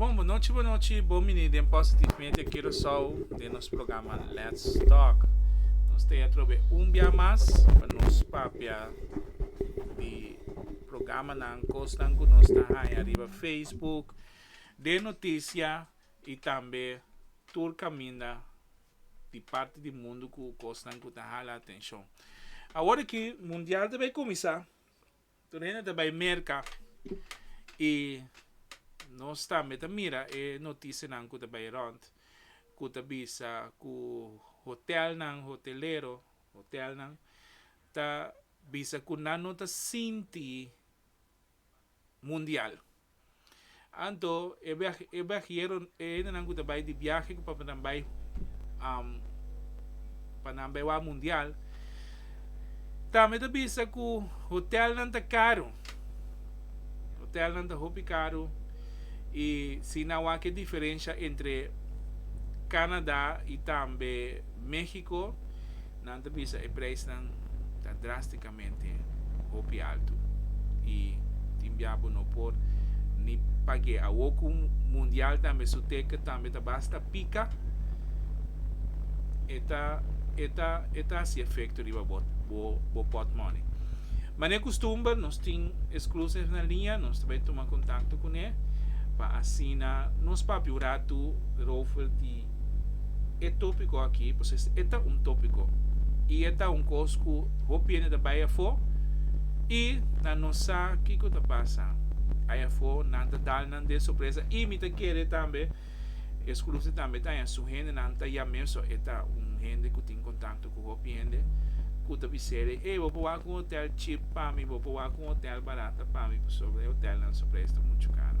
Bon bonochi bonochi bo mini den Positive Media Curaçao den nos programa Let's Talk. Nos te atrobe un bia mas pa nos papia di programanan, cosnan cu nos ta haya riba Facebook, den noticia y tambe tur caminda di parti di mundo cu cosnan cu ta hala atencion. Awor aki Mundial ta bay cuminsa. Tur hende ta bai merka i nos tambe ta mira e notisianan ku ta bai rònt ku ta bisa ku hotèlnan, hotelero, hotèlnan ta bisa ku nan no ta sinti mundial. Anto e e viajero, e hendenan ku ta bai di viahe ku papia nan bai pa nan bai wak mundial tambe ta bisa ku hotelnan ta karu, hotelnan ta hopi karu i si nan wak e diferensha entre Canada i tambe Mexico nan ta bisa e preisnan ta drastica. mente hopi altu y tin bia bo no por ni pag'e awor cu mundial tambe su teke tambe ta basta pica e ta e ta e ta haci efecto riba bo bo bo pot money. Manera costumber nos tin exclusive na linea nos ta bay tuma contacto cune pa asina nos papia un ratu rover di e tópiko akí pues es e ta un tópiko i e ta un kos ku hopi hende ta bai afó i nan no sa kiko ta pasa ai afó nan ta dal nan den sorpresa i mi ta kere tambe e skrunti tambe ta haña su hende nan ta ya mesun e ta un hende ku tin kontakto ku hopi hende ku ta biser'e ey bo por wak un hotel chip pa mi bo por wak un hotel barata pa mi pasobra e hotelnan su preis ta muchu karo.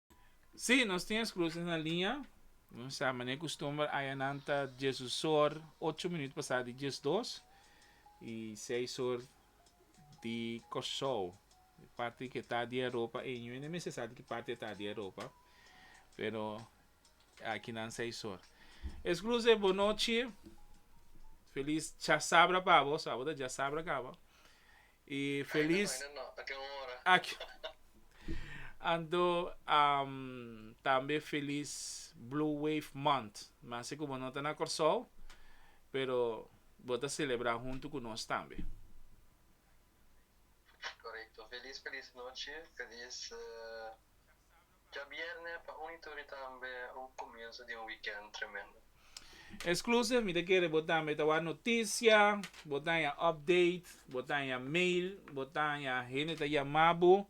Sí, nos tin es cruces na liña. Nos sa mane custumber aya nan ta Jesus or ocho minuut pasá di diesdos y seis or di Corsou. E parti di ketá di Europa ey no e mester sa di ki parti ta di Europa pero aki nan seis or. Es cruces bo nochi, feliz chasabra pa bo, sa bo ta chasabra caba. E felis ak Anto a tambe felis Blue Wave Month. Mi a si ku bo no ta na Kòrsou, pero bo ta selebrá huntu ku nos tambe. Korekto. Felis, felis nochi. Felis. Djabierne pa un ituri tambe un kumienso di un wikènt tremendo. Exclusive, mi ta kere bo tambe ta wak notisia, bo ta haña update, bo ta haña mail, bo ta haña hende ta yama bo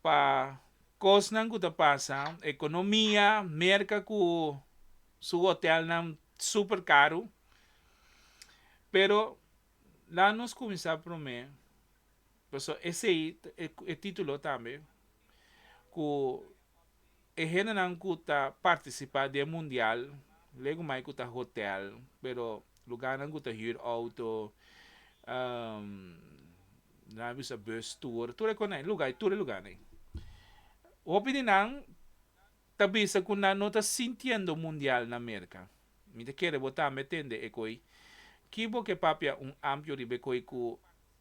pa kosnan ku ta pasa, ekonomia, Merka ku su hotèlnan super karu. Pero laat nos kuminsá promé Pasobra esei e titulo tambe ku e hendenan ku ta partisipá den mundial, lego mai ku ta hotèl, pero lugarnan ku ta hür outo, nan a bisa bus tour, tur e kos na lugá, tur e lugá na ei. Hopi di nan ta bisa ku nan no ta sintiendo mundial na Merka. Mi ta kere bo tambe tende e ko'i. Ki bo ke papia un ampio riba e ko'i ku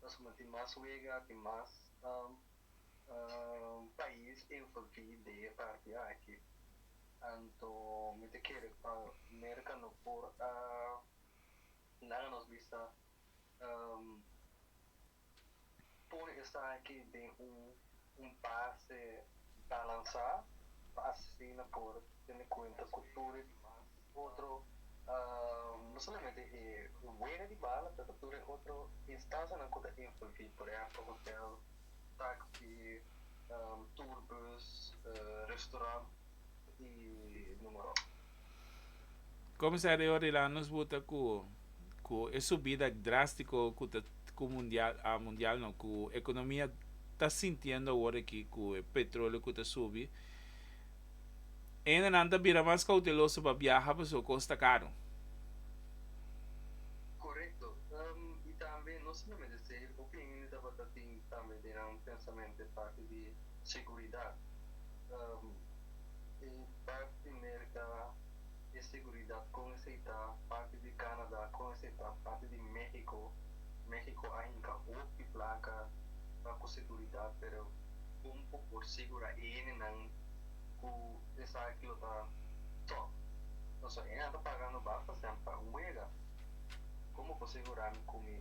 Pasobra tin mas wega, tin mas pais envolvi den e parti aki. Anto mi ta kere pa Merca no por a laga nos bista pone esaki den un. Un pase ta lansá pa asesino por tene kuenta ku tur e dimas otro, no solamente e dueño di bala pero ta tur e otro instasianan ku ta envolví, por ehèmpel hotèl, taksi, tur bus, restaurant i número. Comisario Rilanus buta cu cu e subida drastico cu ta cu mundial a mundial no cu economia ta sintiendo awor aki cu e petroleo cu ta subi hendenan ta bira mas cauteloso pa biaha pasobra e cos ta caro. Correcto y tambe no simplemente esey e bopien hende tabata tin tambe den nan pensamente e parte di seguridad. Bert di Merca e seguridad con e seita parti di Canada con e seita parti di Mexico, Mexico a hinca hoop di placa pa cu seguridad pero con bo por segura ene nan cu esaki lo ta top pasobra ene nan ta paga no basta sean pa un wega con bo por segura mi cu mi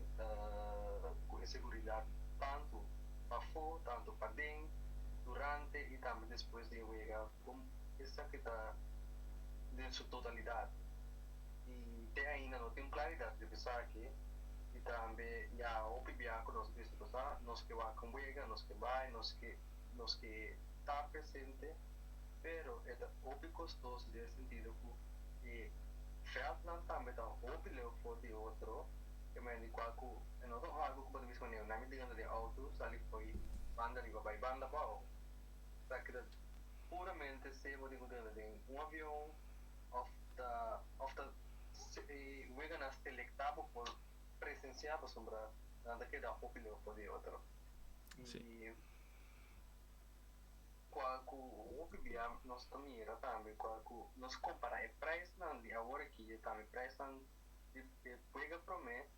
cu e seguridad tanto pafo tanto paden durante y tambe despues di e wega. Con esaki ta den su totalidad y te ainda no tin claridad riba esaki y tambe ya hopi biaha cu nos bisa cosa, nos ke wak un wega, nos ke bay, nos ke nos ke ta presente, pero e ta hopi costoso den e sentido cu e veldnan tambe ta hopi leu for di otro, e manera di cual cu e no ta un algo cu bo ta bisa manera nami dentro di auto sali fo'i banda riba bay banda bao. ta keda puramente sebo di gudera den un avion of ta of ta e weganan selecta bo por presencia pasobra nan ta keda hopi lefo di otro y cual cu hopi bia nos ta mira tambe cual cu nos compara e prijsnan di awor aki tambe e prijsnan di e wega prome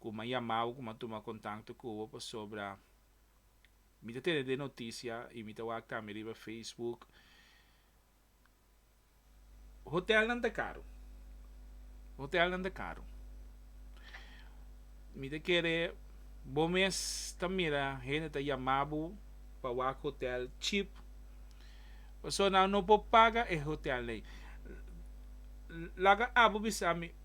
Ku m'a yama bo, ku m'a tuma kontakto ku bo pasobra mi ta tene den notisia i mi ta wak tambe riba Facebook. Hotelnan ta karu, hotelnan ta karu. Mi ta kere bo mes ta mira hende ta yama bo pa wak hotel chip. Pasobra nan no por paga e hotelnan ei. Laga abo bisa mi.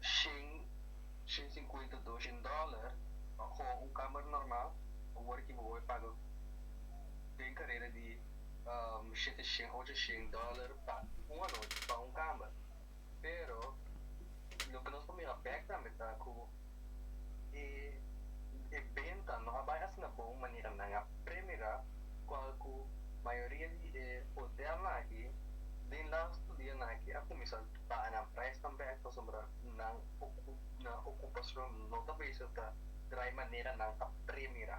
shen, shen sinkuenta, doshen dòler pa koho un kamer normal, awor aki bo wòrdu paga den kareda di shete shen, ocho shen dòler pa un anochi pa un kamer. Pero loke nos ta mira bèk tambe ta ku. E benta no a bai asina bon manera nan a premirá cual cu mayoria di e hotelnan aki den laatsto dianan aki a cuminsa baha nan prijs tambe pasobra nan ocupacion no ta bisa ta draai manera nan a premirá.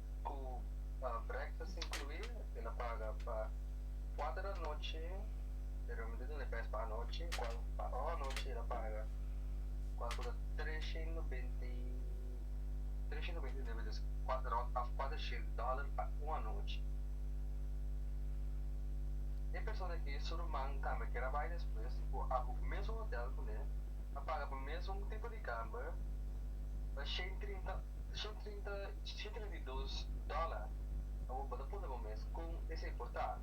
Cu breakfast inclui, tin a paga pa cuater di anochi, pero mi ta tin request pa anochi, cual pa ora anochi el a paga, cual cu ta trescientos beinti, trescientos beinti libitas, rond of cuatrocientos dollar pa un anochi. E persona aki su ruman tambe kier a bay despues, cu a hopi mesun hotel cu ne, a paga pa mesun tipo di camber pa shentreinta. Son trinta si trinta i dos dola pa bo ta puntra bo mes kon esei a por ta.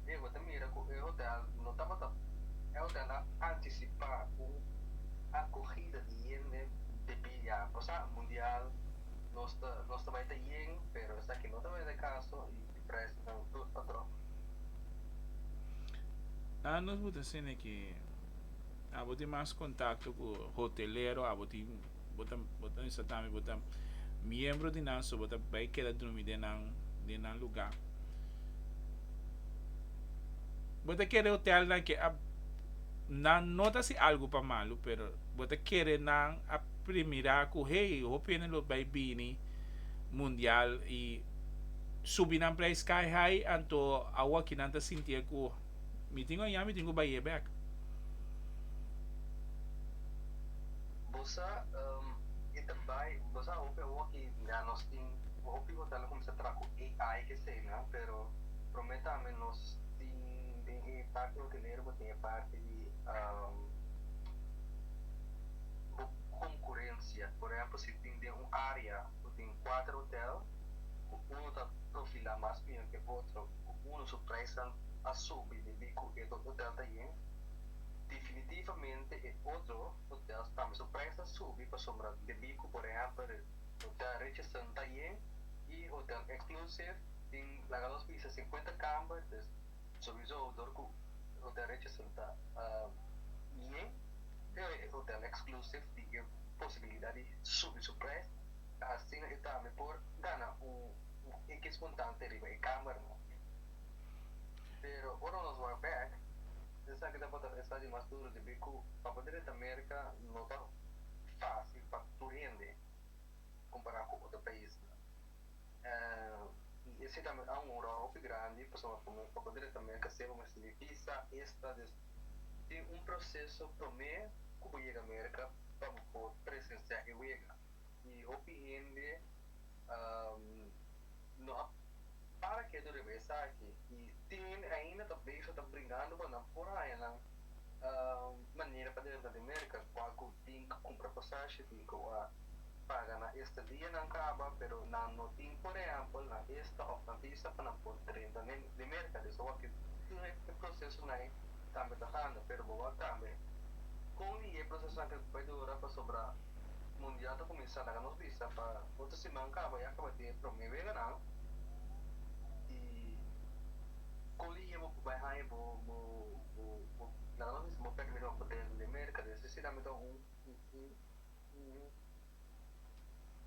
Dje bo ta mira ku e hotel no tabata e hotel a antisipá un akohida di hende debí ya pasá mundial nos ta nos ta bai ta yen pero esaki no tabata e kaso i e preisnan tur ta drop. A nos bo ta sende ke abo tin mas kontakto ku hotelero abo tin. Bo ta, bo ta mester tambe bo ta miembro di nan, so bo ta bai keda drumi den nan, den nan lugá. Bo ta kere hotelnan ke a, nan no ta hasi algu pa malu, pero bo ta kere nan a primirá ku hey, hopi hende lo bai bini mundial i subi nan preis sky high, anto awoki nan ta sintié ku. Mi tin oña mi tin ku bay'é bèk. Bo sa, e ta bai, bo sa hopi awo ki mira nos tin un hopi ku ta la kuminsá traha ku AI keseinan, pero promé tambe nos tin den e parti hotelero bo tin e parti di bo konkurensia. Por ehèmpel si tin den un área ku tin kuater hotel ku unu ta profilá mas mior ke otro, ku uno su praisnan a subi debí ku e otro hotel ta yen, definitivamente e otro hotels tambe su prais ta subi pasobra debí ku por ehèmpel Hotel Richardson ta yen i Hotel Exclusive tin laga nos bisa sinkuenta kamber, dus sowiso dor ku Hotel Richardson ta yen e Hotel Exclusive tin e posibilidat di subi su prais asina e tambe por gana un. na e kes kontante riba e kamer nan. Pero ora nos wak bèk, esaki tabata un estadio mas duru debí ku papia drentra Merka no ta fásil pa tur hende kompará ku otro paisnan. I esei ta mi aun un ròl hopi grandi pasobra pa mi papia drentra Merka seba mester di bisa esta des tin un proseso promé ku bo yega Merka pa bo por presensiá e wega. y hopi hende no a para ke tur riba esaki y tin hende ainda ta bezig ta brigando cu nan por hañanan manera pa dentro di Merca cua cu tin cu cumpra pasashi tin cu a paga nan estadianan caba pero nan no tin por ehempel nan esta of nan visa pa nan por drenta di Merca desa wak cu tur e procesonan cambia ta handa pero bo wak cambia con y e procesonan cu bay dura pasobra mundial ta kuminsá laga nos bista pa otro siman kaba ya kaba di e promé weganan i kon ligia bo por bai haña bo bo bo laga nos bisa bo pèrdè mi ropa den den Merka den esei sinan mi ta un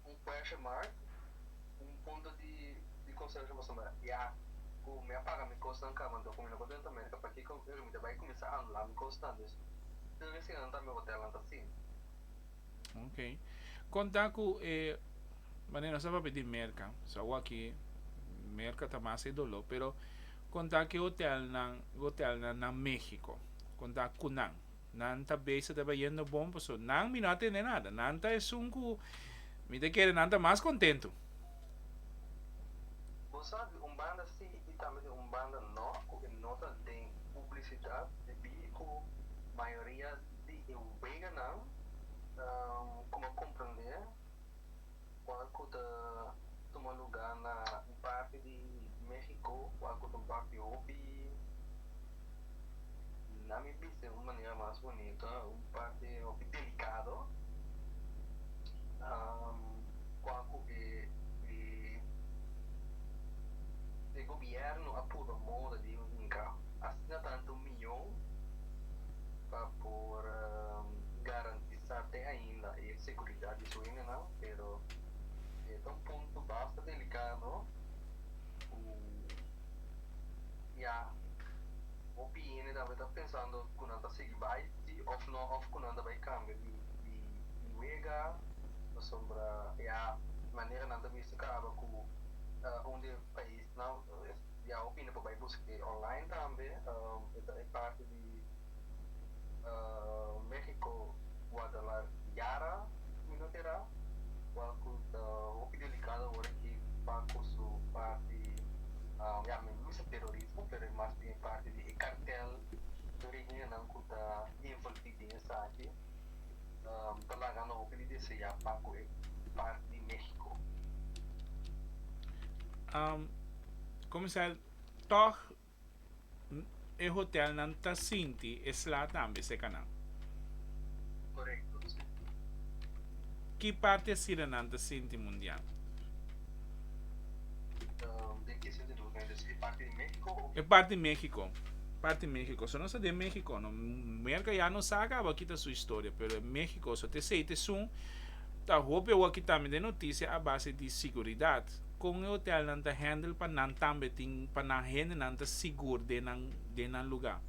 un question mark un punto di di konsiderashon pasobra mi ta ya ku mi a paga mi kosnan kaba anto ku mi no por drenta Merka pakiko mi ta bai kuminsá anulá mi kosnan den esei sinan tambe hotelnan ta asin. Ok. Kon ta ku e mane nos ta papia di merka, so awaki merka ta mas e doló, pero kon ta ke hotelnan, hotelnan na México, kon ta ku nan. Nan ta bey sa taba yendo bon, paso nan mi no a tende nada. Nan ta esun ku mi ta kere nan ta mas kontentu. Bo sa di un banda sí i tambe di un banda no ku e no ta den publisidat debí ku mayoria. Di e weganan ku bo komprendé kual ku ta tuma lugá na un parti di México kual ku ta un parti hopi, na mi bista di un manera mas bunito, un parti hopi delikado, kual ku e e gobièrnu a purba moda di un inka. Asina ta anto mi. opinion pa por garantisá te ainda e seguridat di su hendenan, pero e ta un punto basta delikado ku ya hopi hende tabata ta pensando ku nan ta sigui bai si òf nò òf ku nan ta bai kambia di wega pasobra ya manera nan ta bisti kaba ku un di e pais. Nan ya hopi lo por bai buska e online tambe. E ta e parti di Mexico Guadalar Yara Minotera cual cu ta hopi delicado awor aki pa cu su parti ya mi no bisa terorismo pero e mas bien e parti di e cartel di origen nan cu ta involvi den esaki. N ta laga lo hopi di deseá pa ku e part di México. Komisaris, tòg e hotèlnan ta sinti e sla tambe sekanan? Korekto, si. Ki parti e sirenan ta sinti mundial? E parti di Mexico. Parti di Mexico. So nos ta den Mexico. No, Merca ya no sa acaba kita su historia, pero e Mexico. So te esey te sun ta hopi awor kita mi den noticia a base di siguridad. Con e hotelnan ta handle pa nan tambe tin, pa nan hendenan ta sigur den nan, den nan lugar.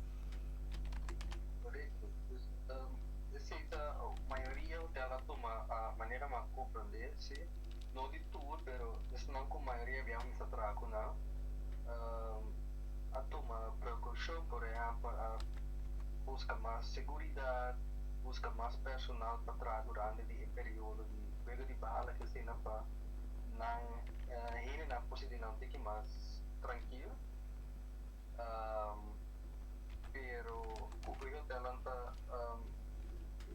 No di tur, pero esnan ku mayoria di ami sa traha ku nan a tuma prekoushon. Por ehèmpel, a buska mas seguridat, buska mas personal pa traha durante di e periodo di wega di bahala aki asina pa nan, hendenan, por sinti nan tiki mas trankil. pero cu e hotelnan ta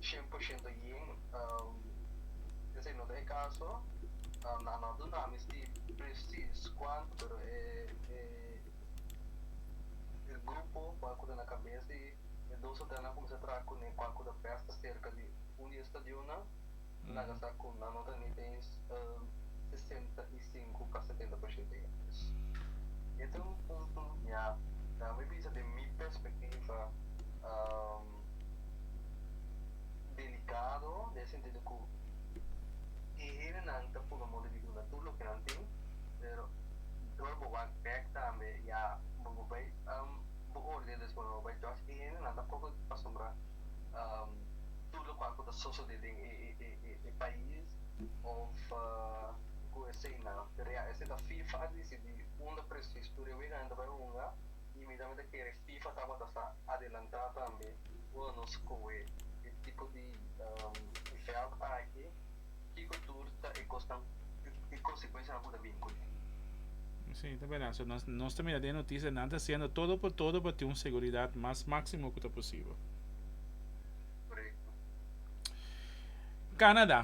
cien por ciento yen, esey no ta e caso, nan a no duna misti precies cuanto, pero e grupo cual cu ta na cabes di e dos hotelnan a cuminsa traha cune cual cu ta bes ta cerca di un di e stadionnan. Nan a sa cu nan no ta ni den sesenta i sinku pa setenta por shente di antes. I e ta un punto mia, na mi bisa den mi perspectiva, delicado, den e sentido cu e hendenan ta puru modo di duna tur loke nan tin, pero dor bo wak bek tambe ya bo bai bo oordena despues bo bai tras, e hendenan tampoco ta acostumbrá. tur lokual ku ta sosodé den e pais òf ku eseinan. Pero ya, esei ta fifa a disidí unda presis tur e weganan ta bai hunga i mi tambe ta kere fifa tabata sa adelantá tambe unda nos kohe e tipo di vèlt aki. Kiko tur ta e kosnan i konsekuensianan ku ta bini ku e? Sí, ta berdad. So, nos, nos ta mira den noticia, nan ta haciendo todo por todo pa tin un seguridad mas máximo cu ta posible. Correcto. Canadá,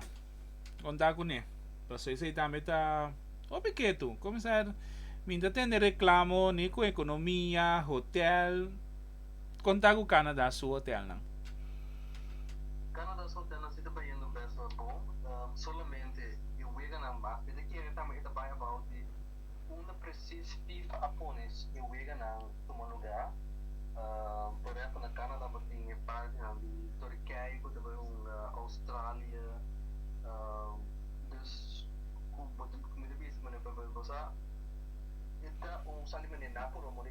conta cu ne. Paso esey tambe ta hopi ketu. Comenzar, min ta tende reclamo ni cu economia, hotel, Kon ta ku Canada su hotelnan? Canada su hotelnan si ta bayendo bèswel bon. Solamente e weganan bas. Mi ta kere tambe e ta bai abou di unda presis fifa a pone e weganan tuma lugá. Por ehèmpel na Canada bo tin e partinan di Turkije ku ta bai hunga Australia. Dus ku bo mi ta bisa manera bo sa e ta un sali manera nan por wak.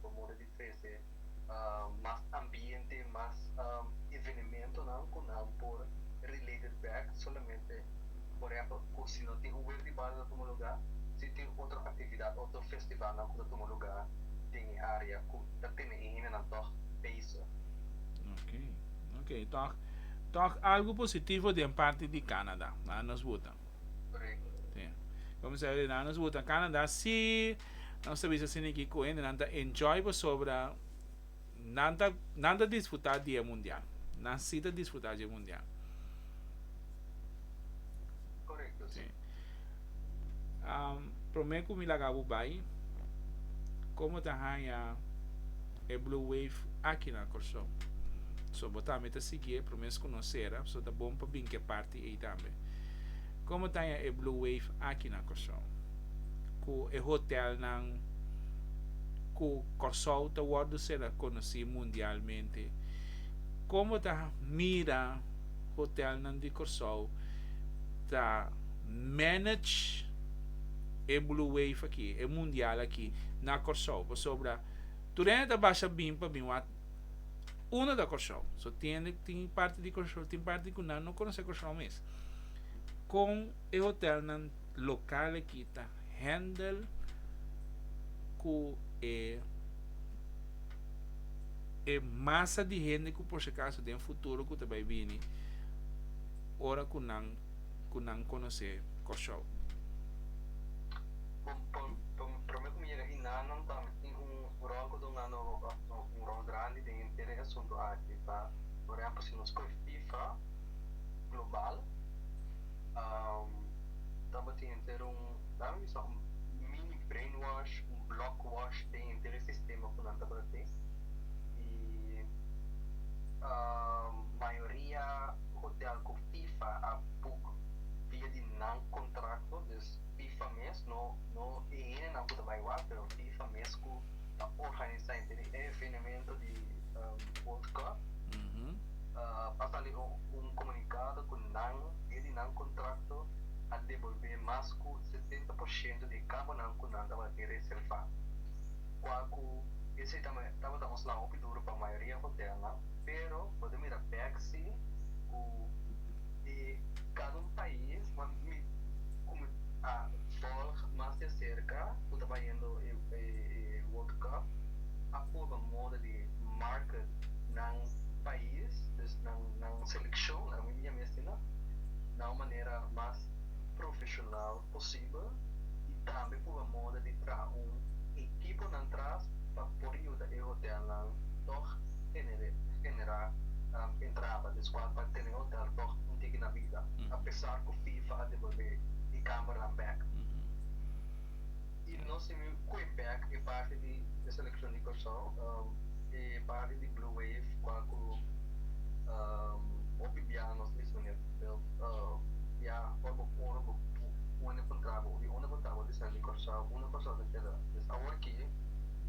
por moda di trece mas ambiente, mas evenementonan cu nan por related back solamente por ehempel cu si no tin huer di bario ta tuma lugar, si tin otro actividad, otro festivalnan cu ta tuma lugar den e area cu ta tene e hendenan tog bezig. Ok, ok, tog, tog algo positivo den parti di Canada, a nos wuta. Correcto. Sí. Como se, na nos wuta Canada, si Nos ta bisa Sini ki ku hendenan ta enjoy pasobra nan ta nan ta disfrutá di e mundial. Nan si ta disfrutá dje mundial. Korekto, si. Promé ku mi laga bo bai, komo ta haña e Blue Wave aki na Kòrsou? So bo tambe ta sigui e promes ku nos sera, so ta bon pa bin ke parti. di ey tambe. Como taña e blue wave aki na Kòrsou? Cu e hotel nan cu Kòrsou ta wordo sera conoci mundialmente. Como ta mira hotel nan di Kòrsou ta manage e blue wave aki, e mundial aki na Kòrsou. Pasobra tur hende ta basha bin pa bin wak. Uno ta Kòrsou. So tiende ku tin parti di Kòrsou, tin parti ku nan no konosé Kòrsou mes. Kon e hotèlnan lokal aki ta hèndel ku e e masa di hende ku por si akaso den futuro ku ta bai bini ora ku nan ku nan konosé Kòrsou? Bon, pa, pa, promé ku mi yega Hinanan ta mi tin un. Un rol ku duna no un rol grandi den henter e asuntu aki ta por ehempel si nos koe fifa global tabatin henter un laga mi sa un mini brain wash un block wash den henter e sistema ku nan tabata tin i mayoria hotel ku fifa a buk via di nan kontrakto. bifa mes, no no e hendenan ku ta bai wak, pero bifa mes ku ta organisá i tene e evenemento di World Cup. A sali un komunikado ku nan dia di nan kontrakto a debolbé mas ku setenta por shento di e kambonan ku nan tabata tin reservá, kua ku esei tabata un sla hopi duru pa mayoria hotelnan, pero bo ta mira Baxi ku. di cada un pais nan mi como a volg mas di acerca cu ta bayendo e world cup a purba moda di market nan pais dus nan seleccionnan mi mester nan na un manera mas profesional. posibel y tambe por a moda di traha un ekiponan tras pa por yuda e hotelnan tog genera entrada despues pa tene e hotel tog un tiki na bida, apesar cu fifa a devolve e cameranan bek. y nos tin un cue back e parti di e seleccion di Cursao e parti di Blue Wave cual cu hopi bia nos miss manera bia ora bo ora bo unda contra bo y unda contra bo ta ser di Cursao unda Cursao ta keda pues awor ke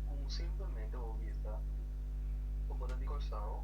con un simplemente bo bisa cu bo ta di Cursao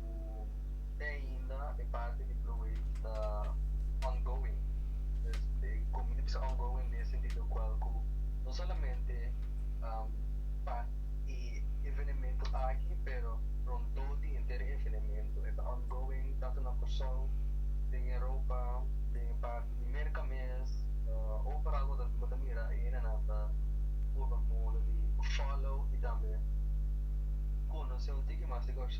ku te ainda e parti di Blue Wave ta ongoing. Pues e kominti bisa ongoing den e sentido kual ku no solamente pa e evenementu aki pero rondó di henter e evenementu. E ta ongoing tantu na Kòrsou, den Europa, den e parti di Merka mes, overal bo ta bo ta mira e hende nan ta purba moda di follow i tambe konoce un tiki mas di Kòrsou.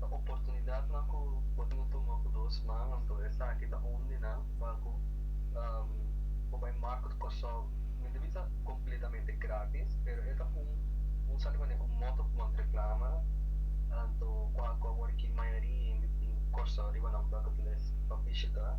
ta oportunidatnan ku bo tin ku tuma ku dos man, anto esaki ta hundi nan pa ku bo bai Marco di Kòrsou, mi ta bisa kompletamente grátis, pero e ta un, un sa di manera, un moto pa manda reklama, anto ku a ku awor aki mayoria hende tin Kòrsou riba nan pa ku ta les pa bishita.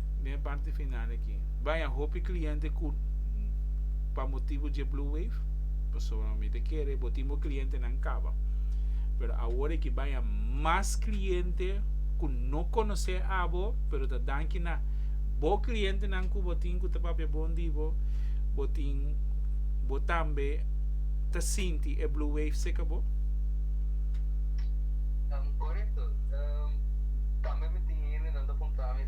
den parti final aki bai a hopi cliente cu pa motibu dje blue wave pasobra mi ta kere bo tin bo cliente nan caba pero awor aki bai a mas cliente cu no conoce abo pero ta danki na bo cliente nan cu bo tin cu ta papia bon di bo bo tin bo tambe ta sinti e blue wave seca bo. Correcto tambe mi tin hende nan ta puntra mi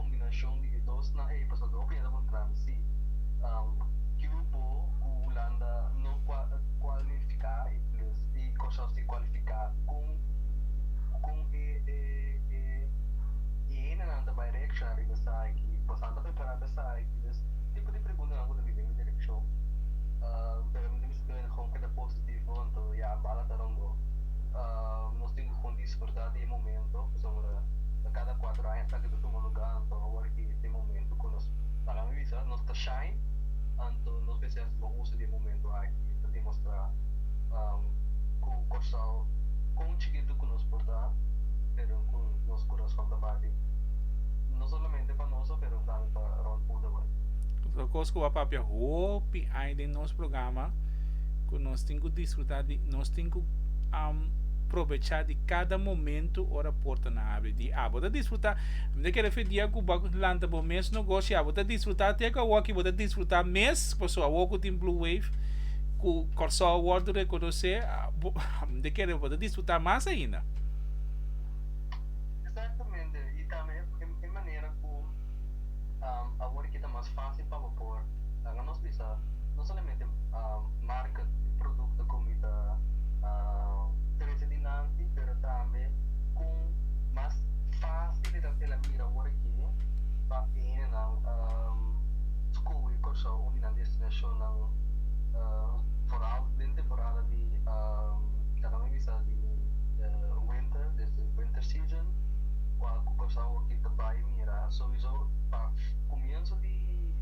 kombinashon di e dosnan ei pasobra hopi hende ta puntrami si Cubo ku Hulanda no kualifiká i plis i kos así kualifiká kon kon e e hendenan ta bai reakshona riba esaki pasobra nan ta prepará pa esaki dus tipo di preguntanan ku ta bini den e direkshon pero mi ta mester hende ku ta positivo hopi a bala ta rònt bo nos tin ku kondish. ta di e momento pasobra ta kada kuater aña esaki ta tuma lugá anto awor ki ta e momento ku nos laga mi bisa nos ta shine anto nos mester hasi bon uso di e momento aki pa demostrá ku Kòrsou kon chikitu ku nos por ta pero ku nos kurason ta bati no solamente pa noso pero tambe pa rònt públiko. Otro kos ku a papia hopi aña den nos. nos programa ku nos tin ku disfruta di nos tin ku um, probecha di kada momento ora porta na abri di abo ta disfruta mi ta kere fe dia ku ba lanta bo mes negoshi abo ta disfruta te ka waki bo ta disfruta mes paso awo ku tin blue wave ku korsou wordo rekonosé abo mi ta kere bo ta disfruta mas ainda Awor ki ta mas fásil pa bo por laga nos bisa no solamente marka di produkto ku mi ta trese dilanti, pero tambe kon mas fásil el a bira awor aki pa hende skohe Kòrsou uni nan destinashonnan foral den temporada di laga mi bisa di winter, desde winter season, kua ku Kòrsou aki ta bai. mira souiso pa comienzo di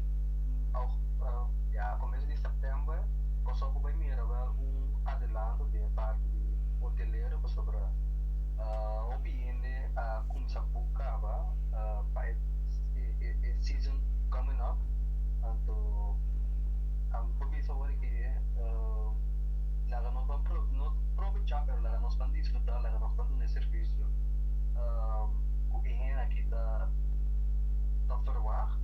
ya comienzo di september pasobra bo bai mira wel un adelanto den e parti di hotelero pasobra hopi hende a cuminsa boek caba pa e season coming up anto bo bisa awor ke laga nos ban probecha pero laga nos ban disfruta laga nos ban duna e servicio cu. Esnan aki ta ta ferwagt,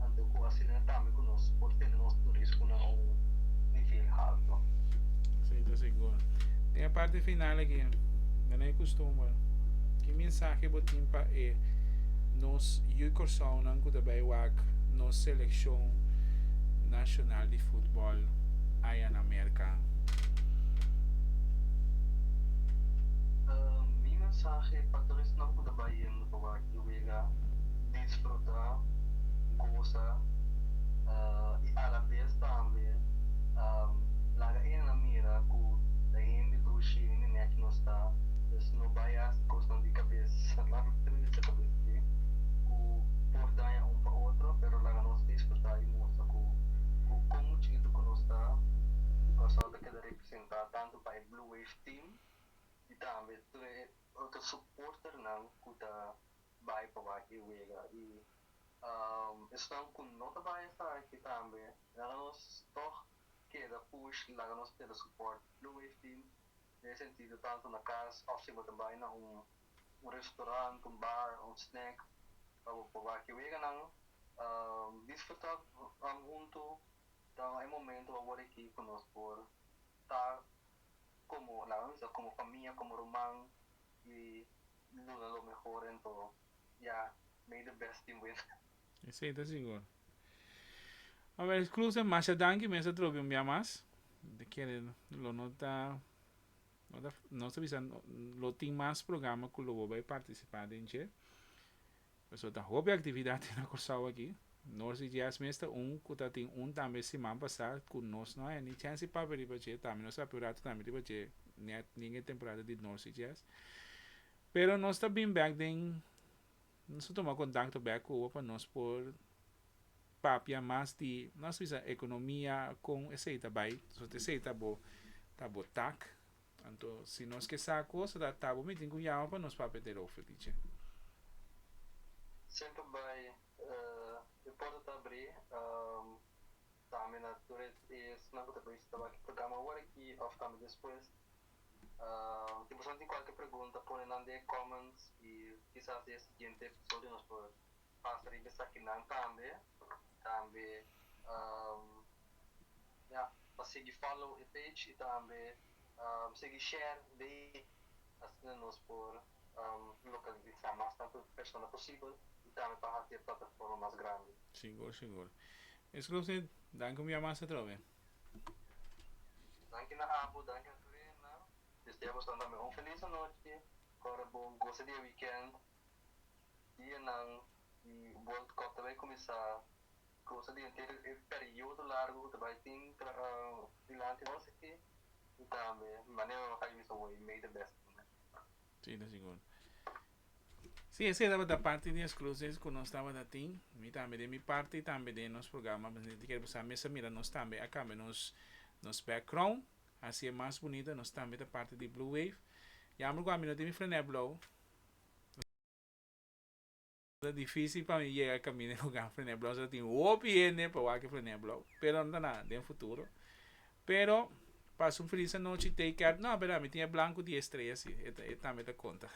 anto ku asina tambe ku nos por tene nos turismo na un nivel halto. Si, ta sigur. Den e parti final aki, manera di kustumber, ki mensahe bo tin pa e nos yu Kòrsounan ku ta bai wak nos selekshon nashonal di futbòl aya na Merka? Mas e pastoresnan ku ta bai yendo pa wak i wega, disfrutá, gosa i alabes tambe laga ennan mira ku ta hende dushi, hende nèkchi nos ta. Pues no bai hasi kosnan di kabes laga tris di kabes dje ku por daña un pa otro, pero laga nos disfrutá i mustra ku kon muchu itu ku nos ta, pasobra ta keda representá tantu pa e Blue Wave Team, i tambe tur e otro suporternan ku ta bai pa wak e wega. I esnan ku no ta bai esaki tambe laga nos tòg keda push i laga nos keda supòrt lug'e e fin. Den e sentido tantu na kas òf si bo ta bai na un restorant, un bar, un snèk pa bo pa wak e weganan, disfrutá huntu ta e momentu awor aki ku nos por ta como nan a bisa como famia como ruman y duna lo mehor ento ya make the best tin win. Esey ta sigur. Aver Kloose masha danki mester tropi un bia mas ta kere lo no ta no ta nos ta bisa lo tin mas programa cu lo bo bay participa den dje. Pasobra ta hopi actividadnan na Corsou aki. Nos di Jazz mes ta un cu ta tin un tambe siman pasá cu nos no haya ni chance pa papia riba dje. Tambe nos a papia un ratu tambe riba dje net nin e temporada di Nos di Jazz. Pero nos ta bin bek den, nos ta tuma contacto bek cu Cuba pa nos por papia mas di, nos bisa economia, con esey ta bay, pasobra esey ta bo, ta bo tak. Anto, si nos ke sa kosa ta tabú mi tin ku yama pa nos papia te Rofe, tichè. Semper bai e porta ta abrí tambe na tur esnan ku ta bisa tabaki programa awor aki òf tambe despues. Si boso tin kualke pregunta pone nan den e comments i kisas den e siguiente episodio nos por pasa riba esakinan tambe, tambe ya pa sigui follow e page y tambe sigui share de asina nos por localisa mas tanto persona posibel y tambe pa hasi e plataforma mas grandi. Sigur sigur. Esclusive, danki un bia mas atrobe. Danki na abo, danki na tur e henda. Desea boso tambe un feliz anochi. Ora bo gosa di e weekend. dianan di World Cup ta bai kuminsá, kosa di henter e periodo largu ku ta bai tin dilanti nos aki i tambe manera nan a kai mester wak e mei di bèsta ku nan. Si, ta sigur. Si, esei tabata parti di e scluses ku nos tabata tin. Mi tambe den mi parti i tambe den nos programa Presidente di Keriborsá a mester mira nos tambe a kambia nos nos background, hasié mas bunita. Nos tambe ta parti di Blue Wave. Yamber ku ami no tin mi frenèblou. Ta difícil pa mi yega caminda e lugar Frené Blauw so tin hopi hende pa wak Frené Blauw pero no ta nada den futuro pero pa su fris anochi Tay Cat no a bera mi tin e blanco di estrella si e tambe ta conta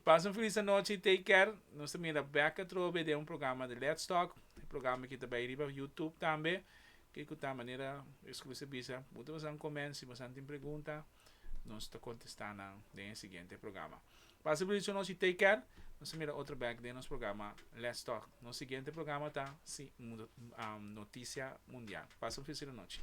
pa su fris anochi Tay Cat nos ta mira bek atrobe den un programa di Lets Talk e programa aki ta bay riba YouTube tambe ke cu ta manera exclusivisha punto boso a comensi boso a tin pregunta. nos ta contesta nan den e siguiente programa. Pasa por dicho nos y take care. Nos a mira otro back den nos programa Let's Talk. Nos siguiente programa ta si um, Noticia Mundial. Pasa un feliz noche.